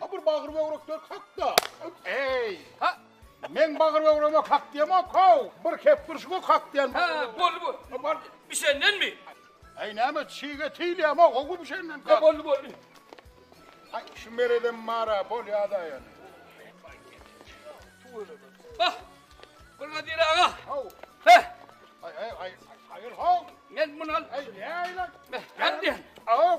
Ha bir bagyr böwrekler kakda. Eý! Ha! Men bagyr böwreme kak diýemok, how! Bir kep durşuňa kak diýen. Ha, boldy bu. Bişendenmi? Eý, näme çig et iýilýämok, ow bişenden kak. Boldy, boldy. Ay şu mereden mara bol ya da yani. Bak. Buna dile aga. Hav. He. Ay ay ay. Hayır hav. Gel bunu al. Ay ne ay lan. Hadi. Hav.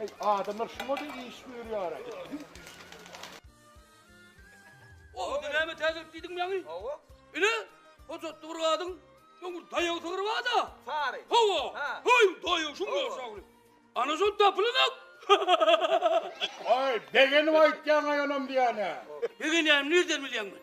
Eý, adamlar şuňa-da iş buýurýar-a. Owda näme täzelik diýdiň ýaňy? Hawa. Ine, hojatda bir gadyň öňür daýaw sygyry bar-da. Sary. Hawa. Haý, daýaw şuň ýaşagyny. Ana şol tapylanok. Aý, begenip aýtýaň-aý onam diýýän-ä. Begenýänim nirden bilýäň men?